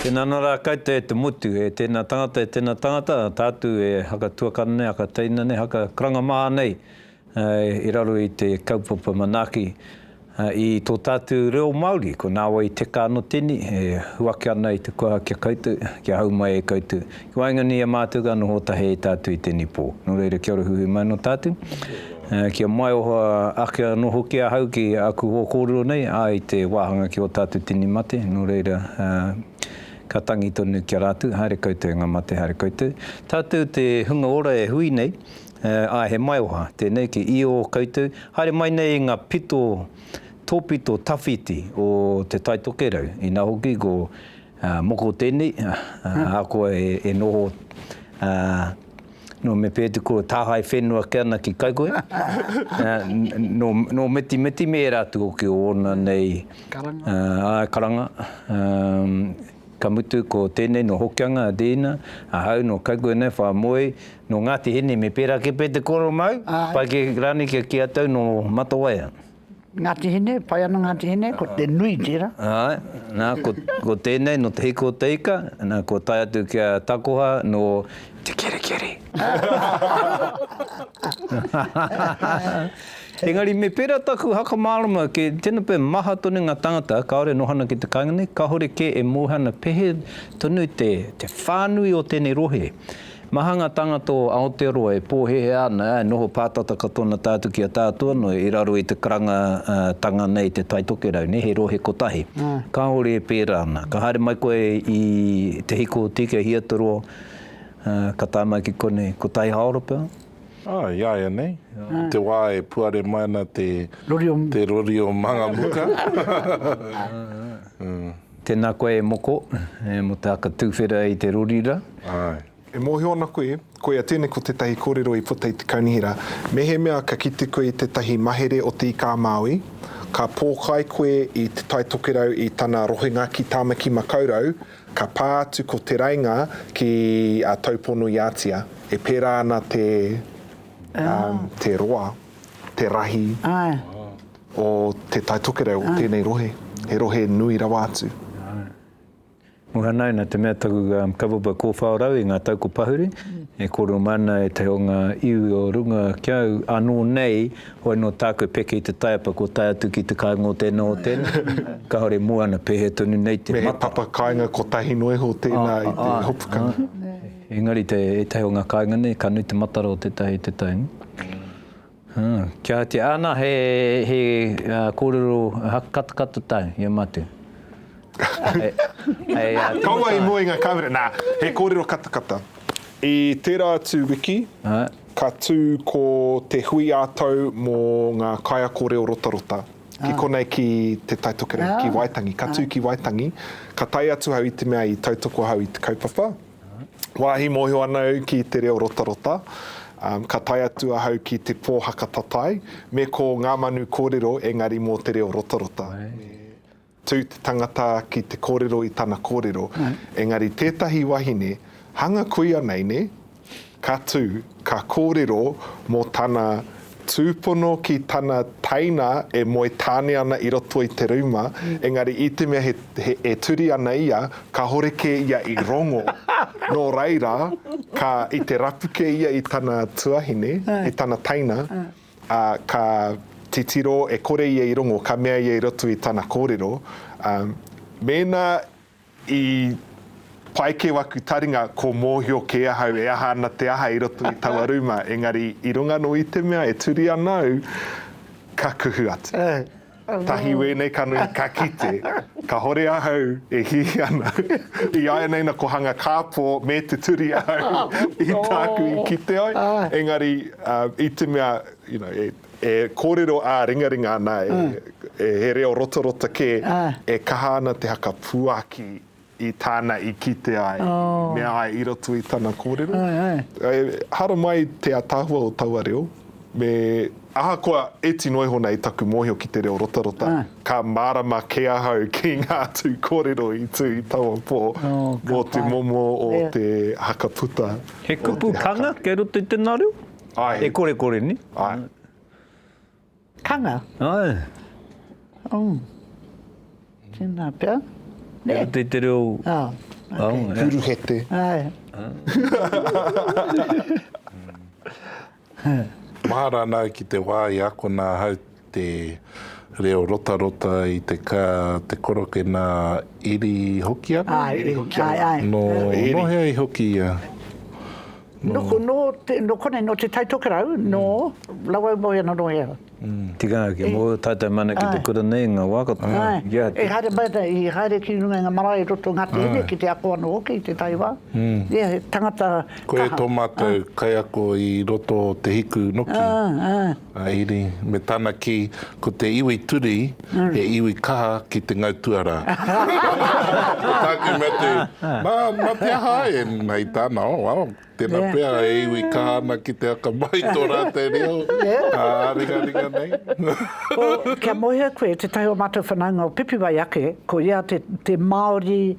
Tēnā nā rā koutou e te motu, e tēnā tangata, e tēnā tangata, tātou e haka tuakana nei, haka teina nei, haka karanga maha nei i raro i te kaupapa manaaki i tō tātou reo Māori. Ko nā wai i teka anō tēnei e huaki ana i te koha ki a koutou, kia hau mai e koutou, Ko waenganui i a mātou ka noho tahi ai tātou i tēnei pō. Nō reira kia ora huhui mai nō tātou. Kia maioha ake anō hoki ahau ki aku hoa kōrero nei, ā, i te wāhanga ki ō tātou tini mate, nō reira, ka tangi tonu ki a rātou, haere koutou e ngā mate, haere koutou. Tātou te hunga ora e hui nei, ā, he maioha tēnei ki i ō koutou. Haere mai nei i ngā pito, tōpito tawhiti o Te Tai Tokerau, inā hoki ko. Moko tēnei, ahakoa e noho nō Mepēti kua tāhae whenua ake ana ki Kaikohe, nō Metimeti me ērā atu hoki o ōna nei karanga, ka mutu ko tēnei nō Hokianga, Deena, ahau nō Kaikohe nei, Whāmoe, nō Ngāti Hine me pērā kē pea te kōrero māu, pai kē rānei kia kī atu au nō Matawaia. Ngāti Hine, pai ana Ngāti Hine, ko te nui tērā. Āe, nā, ko, ko tēnei no Te Hiko o Te Ika, nā, kua tae atu ki a Takoha nō Te Kerikeri. Engari me pērā taku haka mārama ki tēnā pea maha tonu ngā tāngata kāore e noho ana ki te kāinga nei, kāore kē e mōhio ana pēhea tonu te, te whānui o tēnei rohe. Maha ngā tāngata o Aotearoa e pōhēhē ana, e noho pātata katoa ana tātou ki a tātou anō i raro i te karangatanga nei i te Tai Tokerau nei, he rohe kotahi. Kāore e pērā ana. Ka haere mai koe i Te Hiko o Tīkei Hiataroa, ka tae mai ki konei, ko Tai Haoropel. Aa, iāianei, i te wā e puare mai ana te rori o Mangamuka. Tēnā koe e moko, mō te haka tuwhera i te rori ra. Āe. E mōhio ana koe, koia tēnei ko tētahi kōrero i puta i te kaunihera, mehemea ka kite koe i tētahi mahere o Te Ika-a-Māui, ka pōkai koe i Te Tai Tokerau i tana rohenga ki Tāmaki-makau-rau, ka pā atu ko Te Rainga ki a Taupono-i-ātia. E pērā ana te, um, te roa, te rahi. Āe. O Te Tai Tokerau, o tēnei rohe, he rohe nui rawa atu. Muhanae, nā te mea taku kawawapa kōwhao rau i ngā tau ko Pahuri, e kōrero mai ana e te o ngā iwi o runga ki au, anō nei, hoi nō tāku e peke i te taiapa kua tae atu ki te kāinga o tēnā o tēnā, kāore moana, pēhea tonu nei te mata. Me he papa kāinga kotahi noa iho tēnā i te hopukanga. Engari ētahi o ngā kāinga nei, ka nui te matara o tētahi, tētahi. Kia te ana he korero katakato tau ia matu. Kaua i mua i nga kamera na he korero katakata. I tera atu wiki ka tu ko te hui a tau mo nga kaiako reo rotarota ki konei ki te Tai Tokerau ki Waitangi ka tu ki Waitangi ka tae atu au i te mea i tautoko ahau i te kaupapa. Wāhi mōhio ana au ki te reo rotarota, ka tae atu ahau ki te pōhaka tatae, me ko ngā manu kōrero engari mō te reo rotarota. Me tū te tangata ki te kōrero i tana kōrero, engari tētahi wahine, hanga kuia nei, nē? Ka tū, ka kōrero mō tana tūpono ki tana teina e moe tāne ana i roto i te rūma, engari i te mea he, e turi ana ia, kāhore kē ia i rongo. Nō reira, ka, i te rapu kē ia i tana tuahine, i tana teina, ā, ka titiro e kore ia i rongo, ka mea ia i roto i tana kōrero, ā, mēnā I pai kē waku taringa ko mōhio kē ahau e aha ana te aha i roto i taua rūma, engari i runga nō i te mea e turi ana au, ka kuhu atu. Tahi wēnei ka nui, ka kite. Kahore ahau e hihi ana. I āianei na ko hanga kāpō me te turi ahau i tāku i kite ai, engari i te mea, you know, e. E kōrero ā-ringaringa ana, e, he reo rotarota kē, e kaha ana te haka puaki i tāna i kite ai, i mea ai i roto i tana kōrero. E haramai te ataahua o taua reo, me ahakoa e tino iho nei taku mōhio ki te reo rotarota, ka mārama kē ahau ki ngā tū kōrero i tū i taua pō mō te momo o te haka puta. He kupu kanga kei roto i tēnā reo? Ai. E korekore ni. Ai. Kanga. Ai. Oh. Tēnā pia. Ne. Te te reo. Ah. Okay. Oh, Puruhete. Ai. Mahara nā ki te wā i akona hau te reo rotarota i te ka, te koroke nā Eri Hokianga? Āe, Eri Hokianga. Āe, āe. Nō, nō hea i hoki ia? Nō, nō, nō konei, nō Te Tai Tokerau, nō Rawau Moeana, nō hea? Tikanga hoki, mō ō tātou mana ki te kura nei, ngā wā katoa. Āe, e haere mai ana, i haere ki runga i ngā marae i roto o Ngāti Hine, ki te ako anō hoki i te taiwā. Ia, he tangata kaha. Koe tō mātou kaiako i roto o Te Hiku noki. Āe, āe. Iri, me tana kī, Ko te iwi Turi he iwi kaha ki te ngau tuarā. Ko tāku mea tū, Nā, nā te aha āe? Hei tāna, Oh, well, tēnā pea, e iwi kaha ana ki te akamai tō rātou reo ā-ringaringa nei. Ko, kia mōhio koe, tētahi o mātou whanaunga o Pipiwai ake, ko ia te Māori,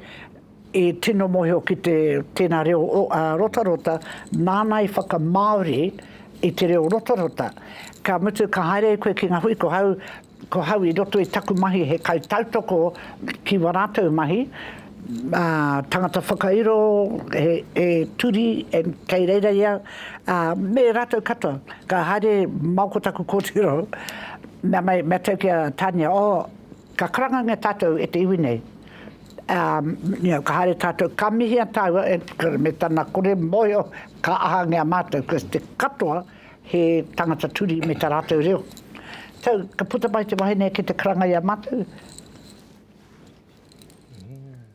I tino mohio ki te tena reo rotarota nana i whaka Maori i te reo rotarota. Ka mutu ka haere koe ki nga hui ko hau ko hau i roto i taku mahi he kai tautoko ki wa ratou mahi a tangata whakairo he turi kei reira ia a me ratou katoa ka haere mau ko taku kotiro mea mai mea tau ki a Tania oh Ka karangangia tātou e te iwi nei, ā, ka haere tātou, ka mihia tāua e te Kura me tana kore mōhio, ka ahangia mātou ko te katoa he tangata turi me tā rātou reo. Tau, ka puta mai te wahine ki te karanga i a mātou.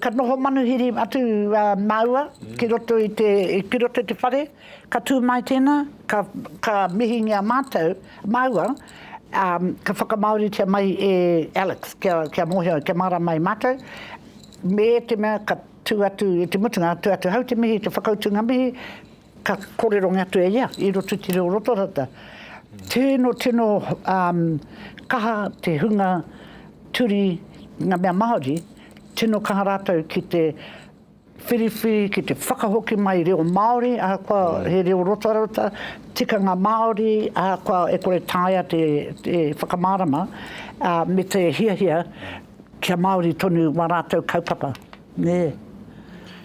Ka noho manuhiri atu a māua ki roto i te, ki roto i te whare, ka tū mai tēnā, ka, ka mihingia mātou, māua, ā, ka whakamāoritia mai e Alex kia, kia mōhio, kia mārāma ai mātou, me te mea ka tū atu i te mutunga, tū atu, hau te mihi, te whakautunga mihi, Ka kōrerongia atu e ia i roto i te reo rotarata. Tino, tino kaha te hunga turi, nga mea Māori, tino kaha rātou ki te whiriwhi, ki te whakahoki mai i reo Māori, ahakoa he reo rotarata, tikanga Māori, ahakoa e kore taea te whakamārama, me te hiahia kia Māori tonu wā rātou kaupapa. Nē.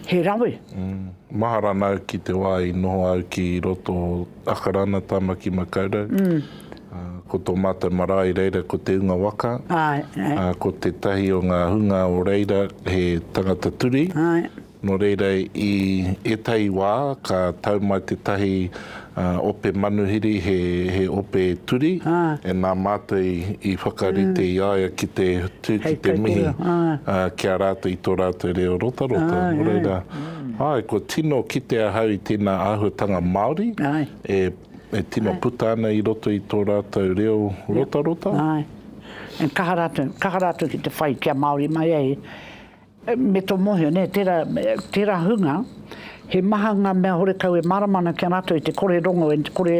He rawe. Mahara ana au ki te wā i noho au ki roto o Akarana, Tamaki Makaurau. Ko tō mātou marae reira ko Te Unga Waka. Ko tētahi o ngā hunga o reira he tangata turi. Nō reira i ētahi wā ka tau mai tētahi Ā, ope manuhiri he, he ope turi, e nā Mātou i, i whakarite i a ia ki te tū ki te mihi, ā, ki a rātou i tō rātou reo rotarota, nō reira, āe, kua tino kite ahau i tēnā āhuatanga Māori e, e tino puta ana i roto i tō rātou reo rotarota. Āe. Kaha rātou, kaha rātou ki te whai kia Māori mai ai. Me tō mōhio, nē, tērā, tērā hunga, he maha ngā mea horekau e mārama ana ki a rātou i te kore rongo, i te kore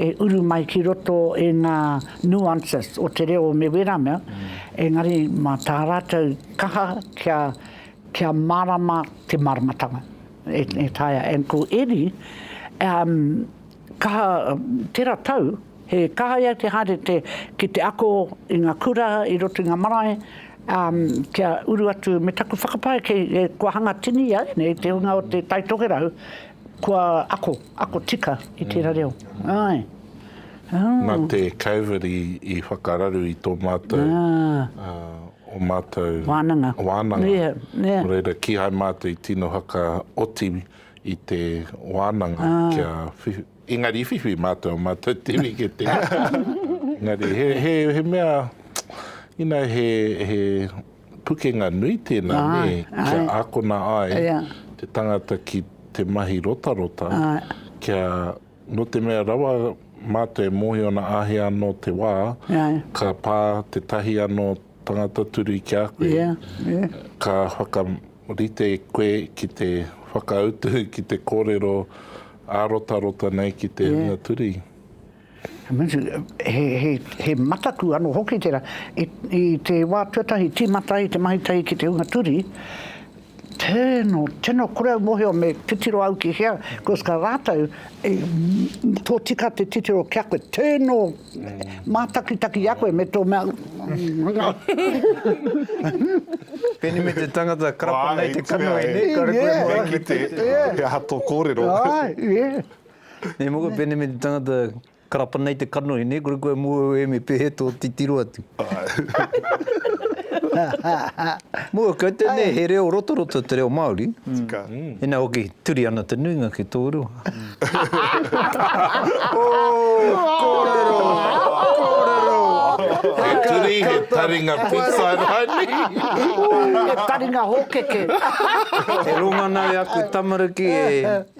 e uru mai ki roto i ngā nuances o te reo me wērā mea, engari mā tā rātou kaha kia, kia mārama te māramatanga e, e taea. And ko Eddie, um, Kaha tera tau, he kaha ia te haere te ki te ako i nga kura i roto i nga marae, um, kia uru atu me taku whakapae kei e kua hanga tini ia nei te hunga o te Tai Tokerau kua ako, ako tika i tera reo. Ae. Oh. Na te Covid i, i whakararu i to matou, ah. uh, o matou. Wananga. Wananga. Yeah, yeah. Reira, kihai matou i tino haka oti. i te wānanga kia whiwhi. Engari i whiwhi mātou, mātou te wiketera. Engari he, he, he mea, ina he, he pukenga nui tēnā, nē, ai, kia ai. ākona ai Ia. te tangata ki te mahi rotarota, Ai. kia, nō te mea rawa mātou e mōhio ana āhea anō te wā, Ai. ka pā tētahi anō tangata turi ki a koe, Ia, ia. ka whaka, Rite koe ki te whakautu, ki te kōrero ārotarota nei ki te hunga turi. He mataku anō hoki tērā. I te wā tuatahi tīmata ai te mahi tahi ki te hunga turi, tēnō, tēnō, kore au mōhio me titiro au ki hea, koska rātou i tōtika te titiro ki a koe, tēnō Mātakitaki i a koe me tō mea Peni me te tangata karapa nei te kanohi nei, kare koe e mōhio me te. He aha tō kōrero? Nei mō koe peni me te tangata karapa nei te kanohi nei, kore koe e mōhio e me pēhea tō titiro atu. Mōhio kau te nei he reo rotoroto te reo Māori, ina hoki turi ana te nuinga ki tō reo. Kōrero! Kōrero! He turi, he taringa pizza rānei? He taringa hōkeke. E ronga ana e aku tamariki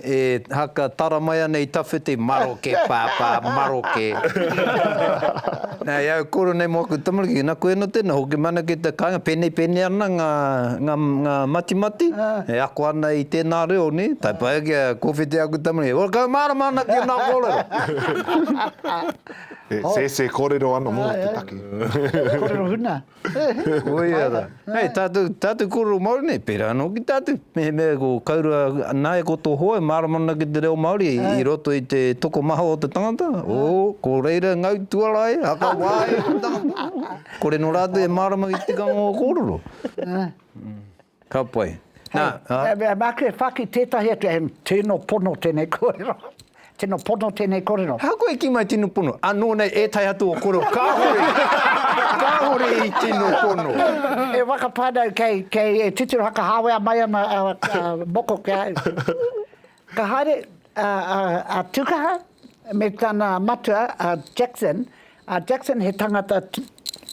e haka tara mai ana i tawhiti, maroke pāpā, maroke. Nā, e au koro nei mō aku tamariki, ki nā koe anō tēnā, hoki mai ana ki te kāinga, pēnei pēnei ana ngā, ngā, ngā matimati, e ako ana i tēnā reo, nē, tae pai ake a Kōwhiti aku tamariki, e ora kaumārama ana ki ōnā kōrero. He sēsē kōrero anō mō te take. Kōrero huna. Koia ra. Hei, tatu, tatu koro Maori nei, pera ano ki tatu. Me, me, ko kaurua, nae ko to hoa, marama ana ki te reo Maori, i roto i te tokomaha o te tangata, oh, ko reira ngau tuara ai, haka wa ai te tangata. Kore no ratou e marama ki te tikanga o kororo. Ka pai. Nā, ā. Hei, māku e whāki tētahi atu, he tino pono tēnei kōrero. Tino pono tēnei kōrero. Ahakoa e kī mai tino pono, anō nei ētahi atu o kōrero kāore, kāore i tino pono. He waka whānau kei, kei, e titiro hakahāwea mai ana a, a moko ki a au. Ka haere a Tukaha me tana matua a Jackson, a Jackson he tangata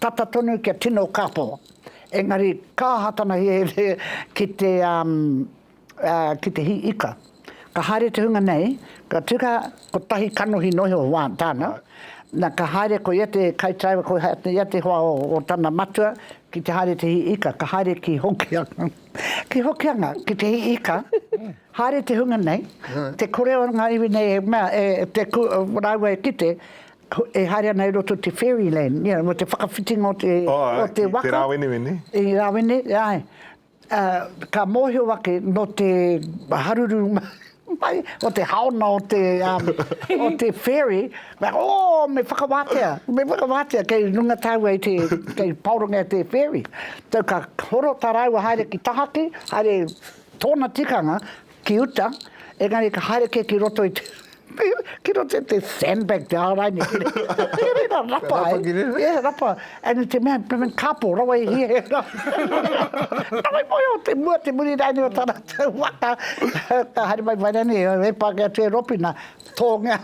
tata tonu kia tino kapo, engari ka aha tana hiahia ki te ki te hī ika. Ka haere te hunga nei, ko Tukaha kotahi kanohi noa iho tāna, na ka haere ko ia te kaitaiwa ko ia te hoa o tana matua ki te haere te hī ika, ka haere ki Hokianga. Ki Hokianga, ki te hii ika, haere te hunga nei, te kore o ngā iwi nei e mea, e te ku, rāua e kite, e haere ana i roto te fairy land, you know, mo te whakawhitinga o te, o te waka. Oh, i te rāweneweni. I rāwene, āe. Ka mōhio ake nō te haruru. Mai, ko te haona o te, um, o te ferry, me, oh, me whakawātea, me whakawātea, kei runga tāua i te, kei paorongia te ferry. Tau ka horo tā rāua haere ki tahaki, haere tōna tikanga ki uta, engari ka haere kē ki roto i te, ki roto i te sandbag te āraini. Te reira rapa, eh? Rapa ki Yeah, rapa. And te mea, pēmēn kāpō, rawa i hia. Rawa i moe o te mua, te muri rāini o tāna. Waka, ka haere mai mai rani, e Pākehā tē Ropina, tōngia.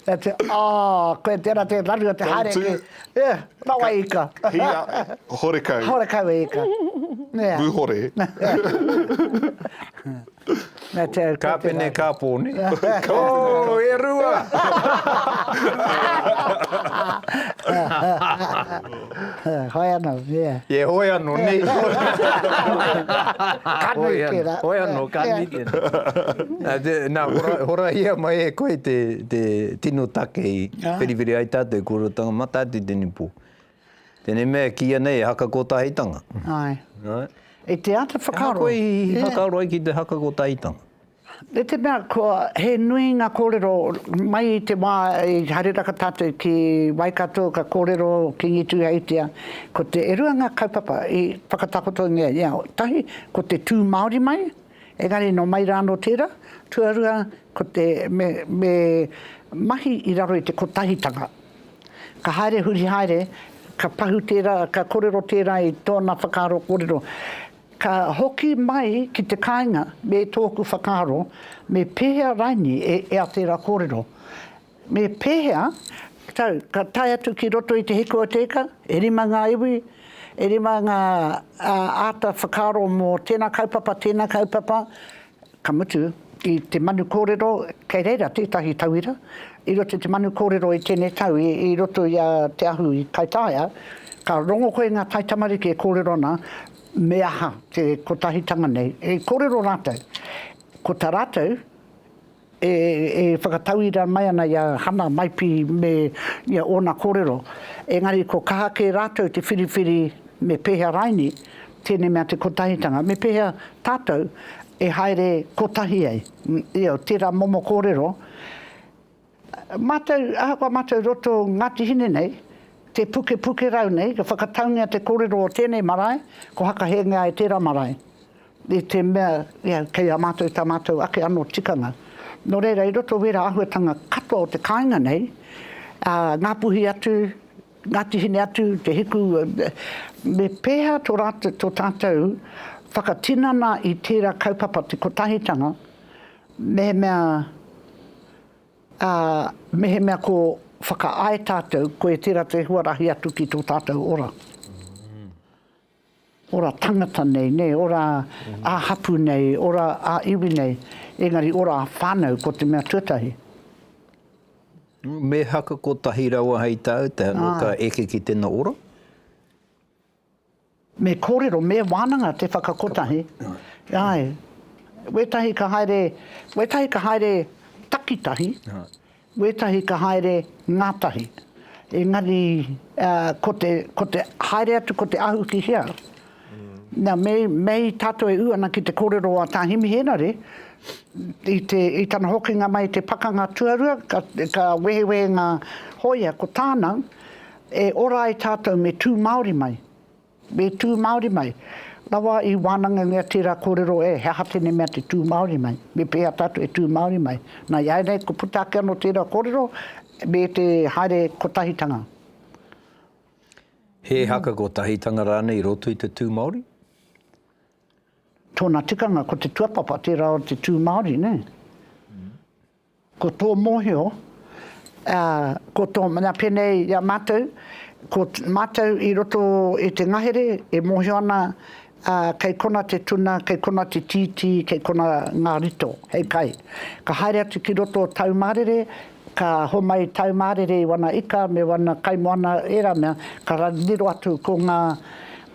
Ka tē, oh, koe tērā tē raru o te haere ki. Tautu. Rawa e ika. Hia, horekau. Horekau e ika. Mūhore. Ka pene ka pone. Ko e rua! Hoi ano, yeah. Yeah, hoi ano, ne. Ka nui tera. Hoi ano, ka nui tera. Na, hora hia mai e koe te tino take i whiriwhiri ai tatou kua rotanga mata atu tene po. Tēnei mea e kīia nei e haka kōtahitanga. Āe. Āe. I te āta whakaaro. He aha koe i whakaaro ai ki te haka kōtahitanga? I te mea kua, he nui ngā kōrero, mai i te wā i haere raka tātou ki Waikato ka kōrero ki Ngi Tūheitia, ko te, e rua ngā kaupapa i whakatakotohia i a au. Tahi, ko te tū Māori mai. Engari nō mai rā anō tērā, tuarua ko te me mahi i raro i te kotahitanga. Ka haere huri haere, ka pahu tērā, ka korero tērā i tōna whakaaro korero. Ka hoki mai ki te kāinga me tōku whakaaro me pēhea raini e ea tērā kōrero. Me pēhea, tau, ka tae atu ki roto i te hiku o te ika, e rima ngā iwi, e rima ngā āta whakaaro mō tēnā kaupapa, tēnā kaupapa, ka mutu, i te manu kōrero, kei reira tētahi tauira, i roto i te manu kōrero i tēnei tau, i roto i a Te Ahu i Kaitaia, ka rongo koe i ngā taitamariki e kōrero ana, me aha te kotahitanga nei, e kōrero rātou, ko tā rātou, e whakatauira mai ana i a Hana, Maipi me ia ōna kōrero, engari ko kaha kē rātou te whiriwhiri me pēhea raini tēnei mea te kotahitanga, me pēhea tātou e haere kotahi ai. Io, tērā momo kōrero, mātou, ahakoa mātou roto Ngāti Hine nei, te pukepuke rau nei, ka whakataungia te kōrero o tēnei marae, ko hakahengia e tērā marae. I te mea, kei a mātou tā mātou ake anō tikanga. Nō reira, i roto i wērā āhuatanga katoa o te kāinga nei, Ngāpuhi atu, Ngāti Hine atu, Te Hiku, me pēhea tō rātou, tō tātou whakatinana i tērā kaupapa te kotahitanga, mehemea, ā, mehemea ko whakaae tātou, koe tērā te huarahi atu ki tō tātou ora. Ora tangata nei, nē, ora ā hapū nei, ora ā iwi nei, engari ora ā whānau, ko te mea tuatahi. Me haka kotahi rawa hei tāu, te anō ka eke ki tēnā ora? Me kōrero, me wānanga te whakakotahi, āe. Wētahi ka haere, wētahi ka haere takitahi, Wētahi ka haere ngātahi, engari ko te, ko te haere atu ko te ahu ki hea. Nā, me, mei tātou e ū ana ki te kōrero a Tā Himi Henare, i te, i tana hokinga mai i te Pakanga Tuarua, ka, ka wehewehe ngā hōia, ko tāna, e ora ai tātou me tū Māori mai. Me tū Māori mai. Rawa i wānangangia tērā kōrero e, he aha tēnei mea te tū Māori mai? Me pēhea tātou e tū Māori mai? Nā, iāianei kua puta ake anō tērā kōrero me te haere kotahitanga. He haka kotahitanga rānei i roto i te tū Māori? Tōna tikanga ko te tuapapa, tērā o te tū Māori, nē? Ko tō mōhio, ā, ko tō mea pēnei i a mātou, ko mātou i roto i te ngahere e mōhio ana, ā, kei kona te tuna, kei kona te tītī, kei kona ngā rito hei kai. Ka haere atu ki roto o tāu mārere, ka homai tāu mārere i wana ika me wana kaimoana, ērā mea, ka riro atu ko ngā,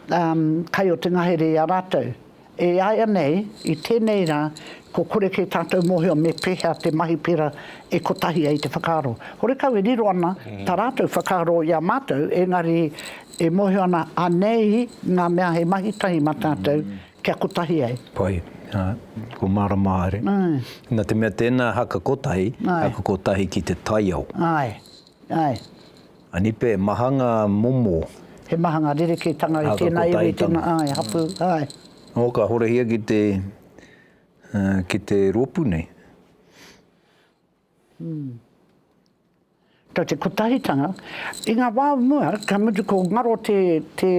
ā, kai o te ngahere i a rātou. E aia nei, i tenei ra, kua kore ke tatou mohio me pehea te mahi pera e kotahi ai te whakaaro. Horekau e riro ana ta ratou whakaaro i a matou, engari e mohio ana anei nga mea he mahi tahi ma tatou kia kotahi ai. Pai, a, kua marama haere. Na te mea tena haka kotahi, haka kotahi ki te taiao. Ae, ae. Anipe, maha ngā momo. He maha ngā rerekētanga i tēnā iwi, i tēnā, āe, hapū, āe. Nō ka horahia ki te, ki te rōpū nei. Tau te kotahitanga, i ngā wā o mua, ka mutu ko ngaro te, te,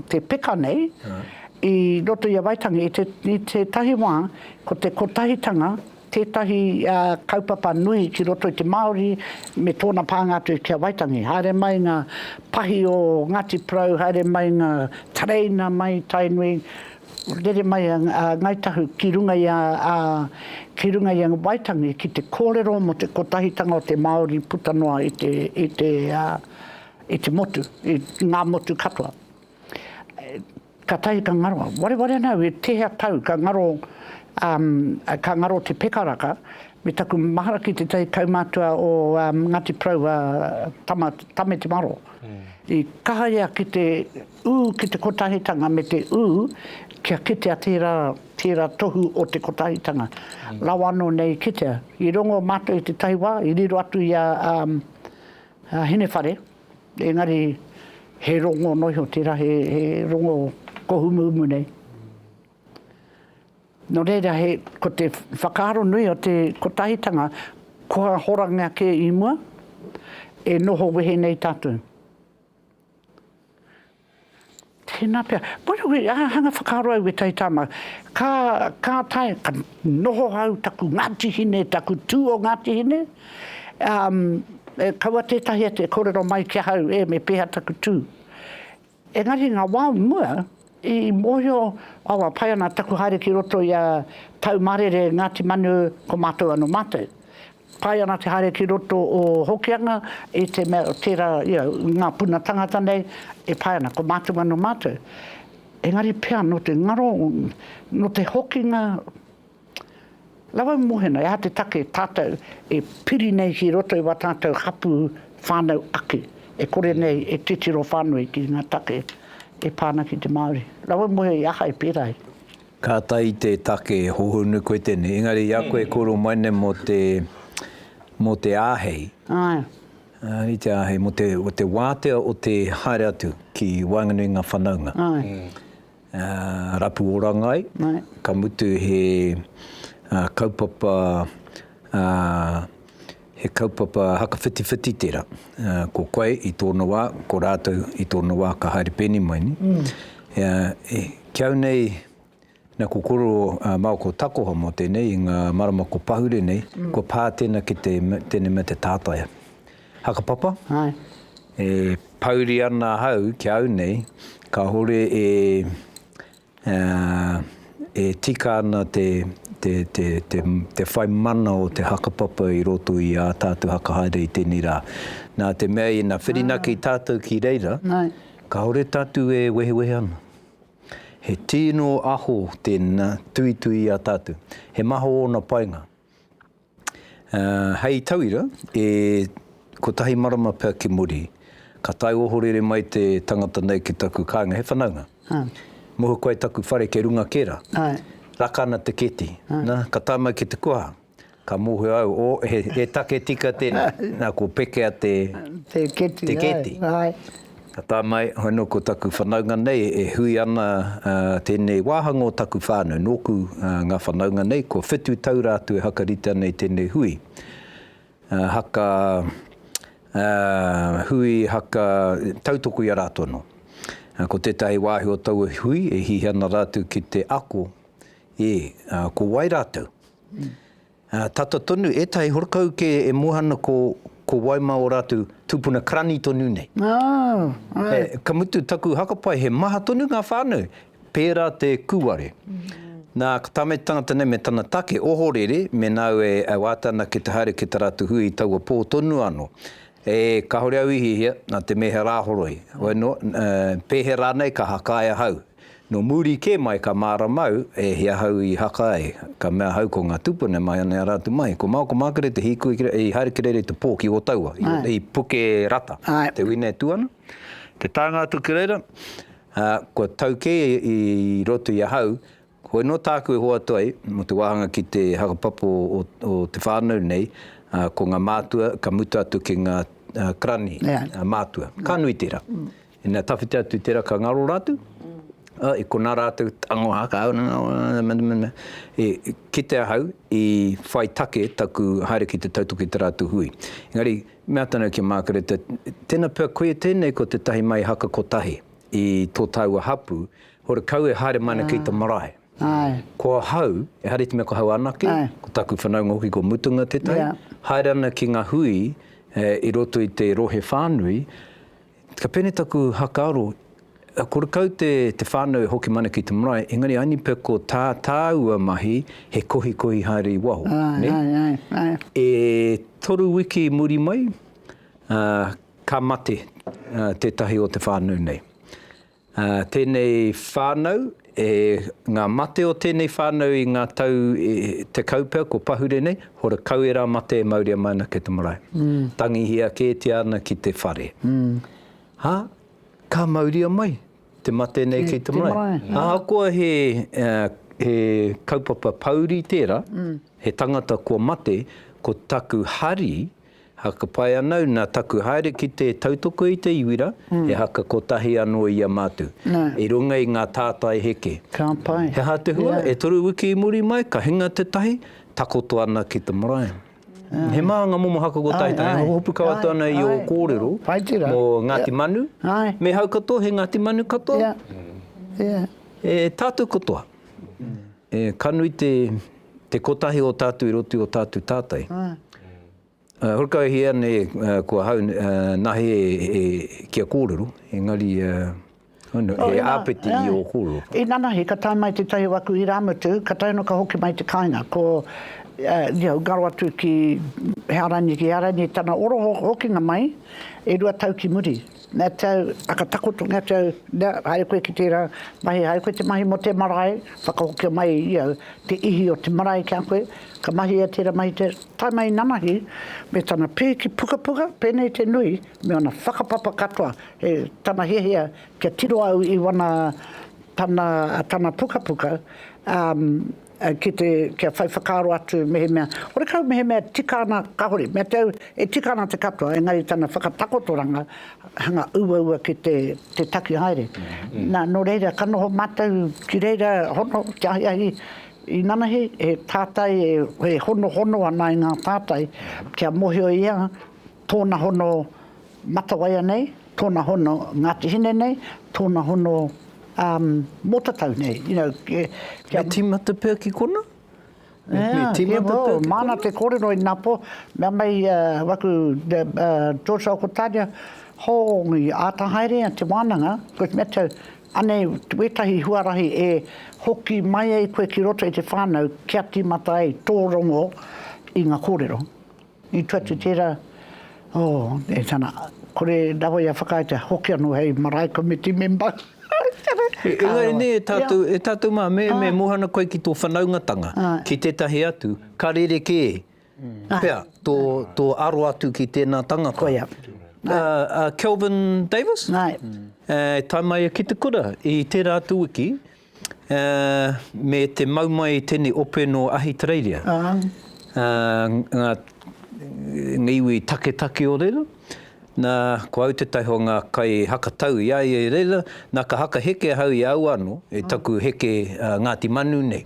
te peka nei, i roto i a Waitangi, i te, i tētahi wā, ko te kotahitanga, tētahi kaupapa nui ki roto i te Māori me tōna pānga atu ki a Waitangi. Haere mai ngā pahi o Ngāti Porou, haere mai ngā tereina mai Tainui, rere mai a Ngāi Tahu ki runga i a, ki runga i a Waitangi ki te kōrero mō te kotahitanga o te Māori puta noa i te, i te, i te motu, i ngā motu katoa. Ka tahi ka ngaro, wareware ana au e tehea tau ka ngaro um ka ngaro te pekaraka me taku mahara ki tetahi kaumatua o um Ngati Porou a Tama Tame Te Maro i kaha ia ki te u ki te kotahitanga me te u kia kitea tera tera tohu o te kotahitanga rawa ano nei i kitea. I rongo matou i tetahi wa i riro atu i a um Hinewhare. Engari he rongo noa iho tērā, he rongo kohumumu nei. Nō reira, ko te whakaaro nui o te kotahitanga, kua horangia kē i mua, e noho wehe nei tātou. Tēnā pea. By the way, ā, hanga whakaaro au e Taitāmau, ka, ka tae, ka noho au taku Ngāti Hine, taku tū o Ngāti Hine, ā, e kaua tētahi atu e kōrero mai ki ahau, e, me pēhea taku tū. Engari ngā wā o mua, i mōhio, awa, pai ana taku haere ki roto i a Taumarere, Ngāti Manu, ko mātou anō mātou. Pai ana te haere ki roto o Hokianga i te mea tera ia nga puna tangata nei e pai ana ko matou nga no matou engari pea no te ngaro no te hokinga rawa i mohena e aha te take tatou e piri nei ki roto i wa tatou hapu whanau ake e kore nei e titiro whanui ki nga take e pa ana ki te Maori rawa i mohe i aha e pera ai. Ka tahi te take e hohonu koe tenei, engari i a koe e koro mai nei mo te mo te ahei. Ae. Ae te ahei mo te o te watea o te haere atu ki waenganui nga whanaunga. Ae. Rapu oranga ai. Ae. Ka mutu he kaupapa He kaupapa hakawhitiwhiti tērā. Ko koe i tōna wā, ko rātou i tōna wā ka haere pēnei mai nei. Mm. Ki au nei, na ko koro uh, maoko takoha mō tēnei, i ngā marama ko pahure nei, mm. ko pā tēnā ki te, tēnei mea te tātaia. Hakapapa? Hai. E pauri ana hau ki au nei, ka hore e, E tika ana te whai mana o te hakapapa i roto i ā tātou whakahaere i tēnei rā. Nā te mea ina whirinaki tātou ki reira, kāore tātou e wehewehe ana. He tino aho tēnā tuitui i a tātou. He maha ōna painga. Hei tauira, e kotahi marama pea ki muri, ka tae ohorere mai te tangata nei ki taku kāinga, he whanaunga. Muhu koe taku whare kei runga kē rā. Raka ana te keti, nā, ka tae mai ki te kuaha, ka mōhio au, o, he take tika tēnei, nā, ko Pekea te keti. Ka tānai, hono ko taku whanaunga nei e hui ana tēnei wāhanga o taku whānau, nōku ngā whanaunga nei, kua whitu tau rā atu e hakarite ana i tēnei hui. Haka hui, haka tautoko i a rātou anō. Ko tētahi wāhi o taua hui e hihi ana rātou ki te ako, ē, ko wai rātou? Tata tonu, etahi horokau ke e mohana ko ko wai ma o ratu tupuna karani tonu nei. He, ka mutu taku hakapai he maha tonu nga whanau, pera te kuware. Na, ka tamete tangata nei me tana take, ohorere, me nau e wata ana ki te haere ki ta ratu hui i taua po tonu ano. E, kahore au i hihia, na te mehera horoi. Hoi no, pehera nei ka hakae ahau. Nō muri kē mai ka māramau e hia ahau i haka ai, ka mea ahau ko ngā tūpuna e mahia nei rātou mai, ko Mao, ko Mākere te hīkoi ki reira, i haere ki reira i te pō ki Ōtaua, i Pukerata, te Winetū ana, te tānga atu ki reira, ā, kua tau kē i roto i ahau, koinei nō tāku e hoatu ai mō te wāhanga ki te hakapapa o te whānau nei, ā, ko ngā mātua ka mutu atu ki ngā Karani, ngā mātua. Ka nui tērā. Ina tawhiti atu tera ka ngaro ratu, i kona ratu tango hakau na nga, kite ahau i whai take taku haere ki te tautoki te ratu hui. Engari me ata nau ki a Makereta, tena pea koia tenei ko te tahi mai haka kotahi i to taua hapu, hore kau e haere mai ana ki ta marae. Ko ahau, ehara i te mea ko hau anake, ko taku whanaunga hoki ko mutunga tetahi, haere ana ki nga hui i roto i te rohe whanui, Ka pēnei taku hakaaro, kore kau te whānau e hoki mana ki te marae, engari anipe ko tā tāua mahi he kohikohi haere i waho. E toru wiki muri mai, ka mate tētahi o te whānau nei. Tēnei whānau, e ngā mate o tēnei whānau i ngā tau tekau pea ko pahure nei, hora kau ērā mate e mauria mai ana kei te marae. Tangihia kētia ana ki te whare. Ā, ka mauria mai te mate nei kei te marae. Ahakoa he kaupapa pouri tērā, he tangata kua mate, ko taku hari, Haka pai anau na taku haere ki te tautoko i te iwira, he haka kotahi ano ia matu, i runga i nga tātai heke. He aha te hua? E toru wiki i muri mai, ka hinga te tahi, takoto ana ki te marae. He maha nga momo haka kotahi tana, e hopu kau atu ana i o korero mo Ngati Manu, me hau katoa, he Ngati Manu katoa, e tatou katoa. E ka nui te, te kotahi o tātou i roto i o tātou tātai. Ā, horekauhia nei ko ahau, nā he, he, kia kōrero, engari, ā, he āpiti i ō kōrero. Inanahi ka tae mai tētahi o aku irāmutu, ka tae anō ka hoki mai te kāinga, ko, ia, ngaro atu ki, he Arani, ki Arani tana oro hokinga mai, e rua tau ki muri. Nā tau, ka takoto nā tau, nā, haere koe ki tērā mahi, haere koe te mahi mō te marae, whakahokia mai i au te ihi o te marae ki a koe, ka mahia tērā mahi, te tae mai i nanahi, me tana pēki pukapuka, pēnei te nui, me ōna whakapapa katoa, he tana hiahia kia tiro au i wana, tana, tana pukapuka, ā, Ki te, kia whai whakaaro atu mehemea, horekau mehemea e tika ana, kahore, mea te au, e tika ana te katoa, engari tana whakatakotoranga hanga uaua ki te, te taki haere. Na, no reira, ka noho matou ki reira, hono, te ahiahi i nanahi, he tatai e, e honohono ana i nga tatai, kia mohio ia, tōna hono Matawaia nei, tōna hono Ngāti Hine nei, tōna hono um, Mōtatau nei. You know, kia, kia... Me tīmata pea ki kona? Me, yeah, me tīmata yeah, well, pea ki Māna kona? te kōrero i nā pō, mea mai uh, waku the, uh, George Okotāria, hōngi āta haere a te wānanga, koe mea tau, anei wētahi huarahi e hoki mai ai koe ki roto i te whānau kia tīmata ai tō rongo i ngā kōrero. I tu atu tērā, oh, e tana, kore rawa ia whakaaetia, hoki anō hei marae komiti memba. Engari nē, e tātou, e tātou mā, me, me ah. mohana koe ki tō whanaungatanga, ah. ki tētahi atu, ka rerekē, ah. pea, tō, tō aro atu ki tēnā tangata. Koia. Uh, uh, Kelvin Davis? Nai. Uh, taimai ki te kura, i tērā atu wiki, Ā, me te mau mai i tēnei ope nō Ahitereiria, ā, ngā, ngā iwi taketake o reira, nā, ko au tētahi o ngā kaihakatau i a ia i reira, nā, ka haka heke ahau i a au anō, i taku heke Ngāti Manu nei,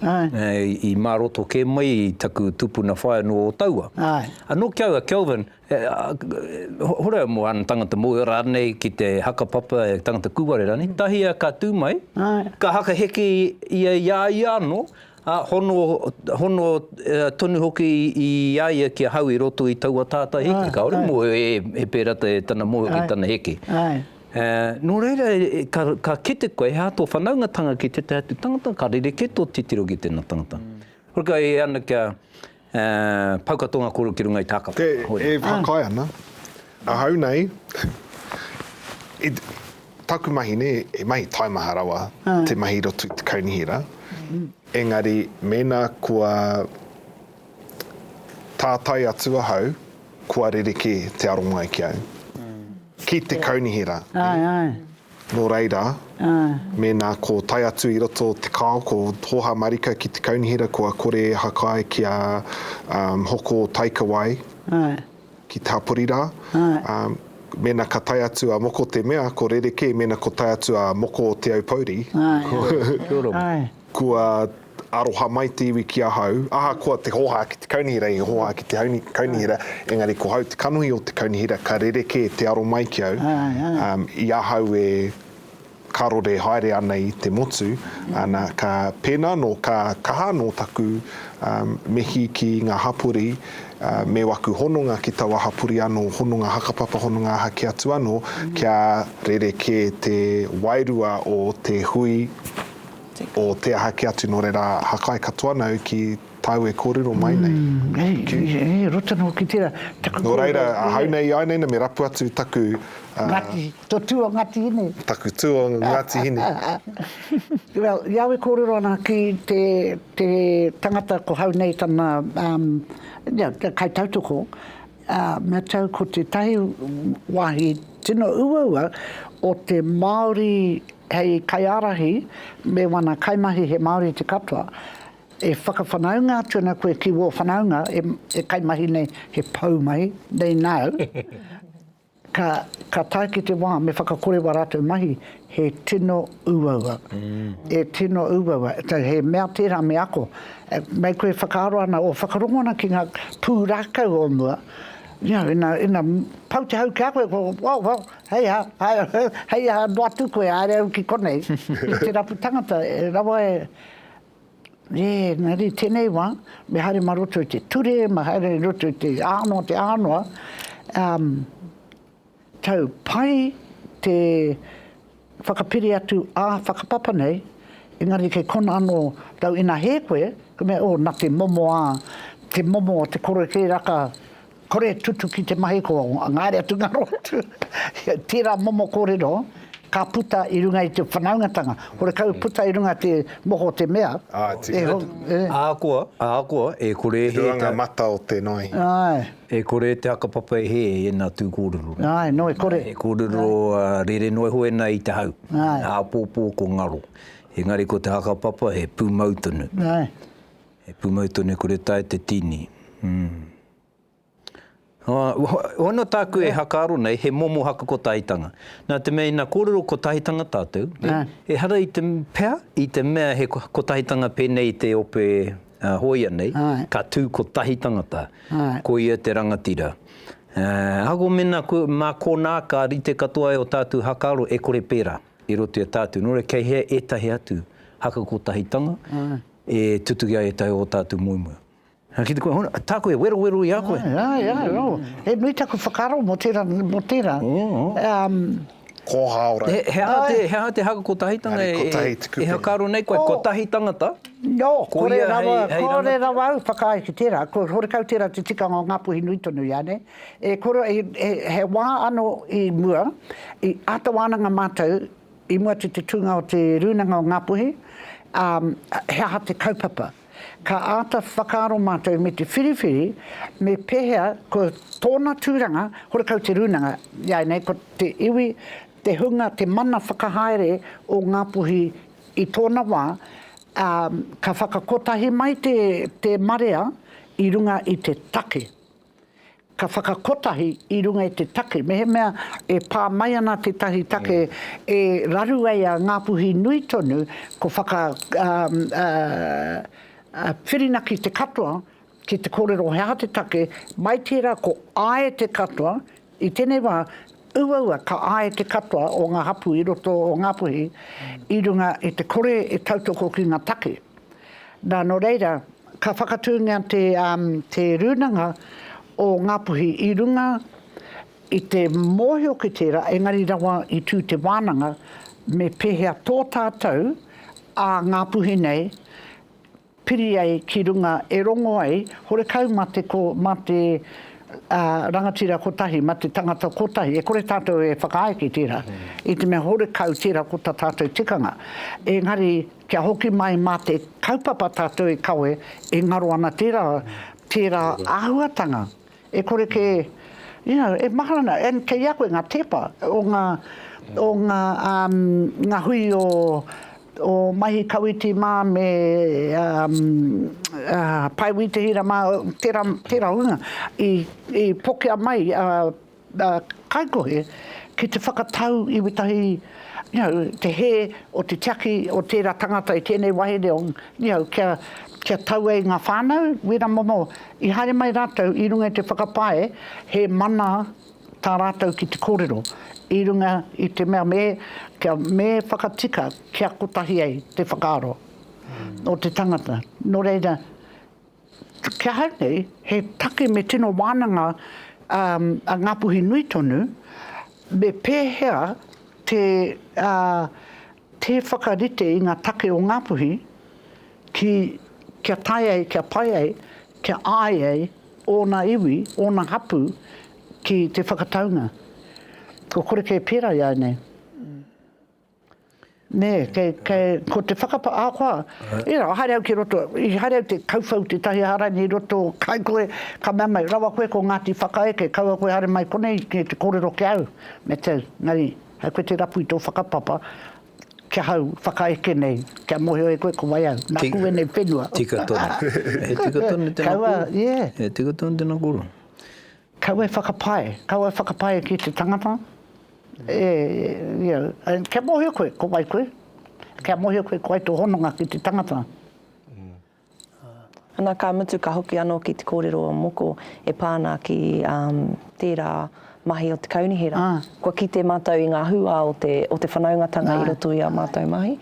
i mā roto kē mai i taku tupuna whaea nō Ōtaua. Anō ki au a Kelvin, He horau mō āna tangata mōhio rānei ki te haka papa e tangata kūware rānei, tahia ka tū mai, ka haka heke ia i a ia anō, ā, hono, hono tonu hoki i a ia ki ahau i roto i taua tātai heke, kāore mōhio e, e pērā tana mōhio ki tana heke. Nō reira, ka, ka kite koe, he aha tō whanaungatanga ki tētahi atu tangata, ka rerekē tō titiro ki tēnā tangata. Hore kai e ana kia, E pauka tō ngā kōrero ki runga i tā ka whakahaere. E whakaae ana. Ahau nei, i taku mahi nei, he mahi taimaha rawa te mahi i roto i te kaunihera, engari mēnā kua tātai atu ahau, kua rerekē te aromai ki au, ki te kaunihera. Nō reira, mēnā ko tae atu i roto te kao ko Hōhā Marika ki te kaunihera kua kore e hakae kia hoko taikawai ki te hapori rā, mēnā ka tae atu a Moko te mea ko rerekē mēnā ko tae atu a Moko o Te Aupouri ko. Kua aroha mai te iwi ki ahau, ahakoa te hoha ki te kaunihera i hoha ki te kaunihera, engari ko hau te kanohi o te kaunihera ka rerekē te aro mai ki au, i ahau e karore haere ana i te motu, ana, ka, pēnā anō ka kaha anō taku mihi ki ngā hapori me waku hononga ki taua hapori anō, hononga hakapapa, hononga aha kē atu anō, kia rerekē te wairua o te hui, o te aha ki atu nō reira hakai katoa nau ki tāu e kōrero mai nei. He roto nō ki tērā. Nō reira, ahau nei i a nei nei me rapu atu taku. Ngati, tō tū o Ngati Hine. Taku tū o Ngati Hine. Well, i au e kōrero ana ki te tangata ko hau nei tana kai tautoko, me tau ko tētahi wāhi tino uaua o te Māori Hei kaiārahi me wana kaimahi he Māori te katoa, e whakawhanaunga atu ana koe ki wō whanaunga e kaimahi nei he pou mai, nei nāu, ka tae ki te wā me whakakore wā rātou mahi he tino uaua, e tino uaua, he mea tērā me ako. Mei koe whakaaro ana o whakarongo ana ki ngā pūrākau o mua, you know, ina pau te hau ki a koe, well, well, Hei aha, hei aha noa atu koe, haere au ki konei, ki te rapu tangata, e rawa e, e, na re, tenei wa, me haere ma roto i te ture, me haere i roto i te anoa, te anoa, um, tau pai te whakapiri atu a whakapapa nei, engari kei kona ano tau ina he koe, ka mea, oh, na te momo a, te momo o te koroeke raka, Kore tutuki te mahi ko ngaere atu ngaro atu tera momo korero ka puta i runga i te whanaungatanga horekau puta i runga te moho te mea e ho e. Ahakoa, ahakoa, e kore he. I roa nga mata o te noe. Ae. E kore te hakapapa e he i ena tu korero. Ae, noe kore. He korero rere noe hoena i te hau. Ae. Apopo ko ngaro. Engari ko te hakapapa he pumau tonu. Ae. He pumau tonu e kore tae te tini. Uhuh. Hono tāku e hakaaro nei, he momo haku ko Tahitanga. Nā te mea ina kōrero ko Tahitanga tātou, ehara i te, pea? I te mea he ko Tahitanga pēnei i te ope hōia nei, ka tū ko tahi tangata, ko ia te rangatira. Ahakoa mēnā mā kōnā ka rite katoa ai o tātou hakaaro e kore pērā i roto i a tātou, nō reira kei hea ētahi atu haku ko Tahitanga, E tutuki ai e Taue ō tātou moemoeā. Ā, ki te kore, hona, tā koe, werowero i a koe. Āe, āe, āe, ō. He nui taku whakaaro mō tērā, mō tērā. Ō. Kōhā ora. He, he aha te, he aha te haka kotahitanga e, e, Engari kotahi te kupe. e whakaaro nei koe, kotahi tangata, Nō, ko kore ia rawa, hei, hei rangatahi. kore rawa au whakaae ki tērā. Ko horekau tērā te tikanga o Ngāpuhi nui tonu i a nei. E kore, he, he wā anō i mua, i āta wānanga mātou, I mua atu te tūnga o Te Rūnanga o Ngā Puhi, ā, he aha te kaupapa? Ka āta whakaaro mātou me te whiriwhiri me pēhea ko tōna tūranga, horekau te rūnanga, iāinei ko te iwi, te hunga, te mana whakahaere o Ngā Puhi i tōna wā, ā, ka whakakotahi mai te marea i runga i te take. Ka whakakotahi i runga i te take, mehemea e pā mai ana tētahi take e raru ai a Ngāpuhi nui tonu, ko whaka whirinaki te katoa ki te kōrero he aha te take, mai tērā ko āe te katoa, I tēnei wā, uaua ka āe te katoa o ngā hapū i roto o Ngāpuhi i runga i te kore e tautoko ki ngā take. Nā, nō reira, ka whakatūngia te, te Rūnanga o Ngāpuhi i runga i te mōhio ki tērā, engari rawa i tū te wānanga, me pēhea tō tātou, ā Ngāpuhi nei, piri ai ki runga e rongo ai horekau ma te ko ma te rangatira kotahi, ma te tangata kotahi, e kore tatou e whakaae ki tera, i te mea horekau tera ko ta tatou tikanga, engari kia hoki mai ma te kaupapa tatou e kawe e ngaro ana tera tera ahuatanga. E kore kē, you know, e mahara ana, and kei a koe ngā tēpa o ngā, o ngā, um, ngā hui o, o Maihi Kawiti mā me, um, a Pae Wītihira mā, tērā, tērā hunga i, i pokea mai a, a Kaikohe ki te whakatau i wētahi. Nihau, te hē o te tiaki o tērā tangata i tēnei wahere o, nihau, kia, kia tau ai ngā whānau, wēra momo, i haere mai rātou i runga i te whakapae, he mana tā rātou ki te kōrero, i runga i te mea me, kia, me whakatika kia kotahi ai te whakaaro o te tangata. Nō reira. Ki ahau nei, he take me tino wānanga a Ngāpuhi nui tonu, me pēhea te tē whakarite i ngā take o Ngāpuhi ki kia tae ai, kia pai ai, kia āe ai ōna iwi, ōna hapū ki te whakataunga. Kua kore kē pērā i a au nei. Nē, kei, kei, ko te whakapa, ahakoa, e rā, haere au ki roto, i haere au te kauwhau tētahi aha rānei i roto, kai koe, ka mea mai, rawa koe ko Ngāti Whakaeke, kaua koe haere mai konei ki te kōrero ki a au, me te, engari, hai koe te rapu i tō whakapapa, ki ahau, whakaeke nei, kia mōhio e koe ko wai au, nāku ēnei whenua. Tika tonu. He tika tonu tēnā kōrero. Kaua, yeah. He tika tonu tēnā kōrero. Kau e whakapae, kau e whakapae ki te tangata, e, you know, kia mōhio koe, ko wai koe, kia mōhio koe ko wai tō hononga ki te tangata. Ana ka mutu ka hoki anō ki te kōrero o Moko e pā ana ki tērā mahi o te kaunihera. Kua kite mātou i ngā hūā o te, o te whanaungatanga i roto i ā mātou mahi.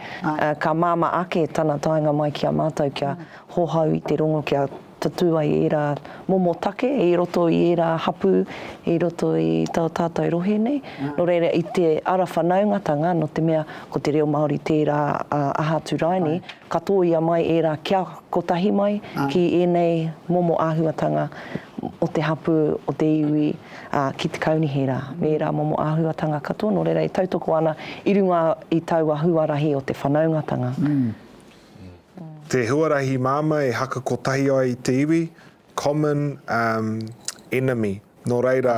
Ka māmā ake tana taenga mai ki a mātou kia hohou i te rongo kia Tatū ai ērā momo take i roto i ērā hapū i roto i tō tātou rohe nei. Nō reira, i te ara whanaungatanga, nō te mea ko te reo Māori tērā a Aha Atu Raini, ka tōia mai ērā kia kotahi mai ki ēnei momo āhuatanga o te hapū, o te iwi, ā, ki te kaunihera me ērā momo āhuatanga katoa. Nō reira, e tautoko ana i runga i taua huarahi o te whanaungatanga. Te huarahi māmā e haka kotahi ai i te iwi, common enemy, nō reira,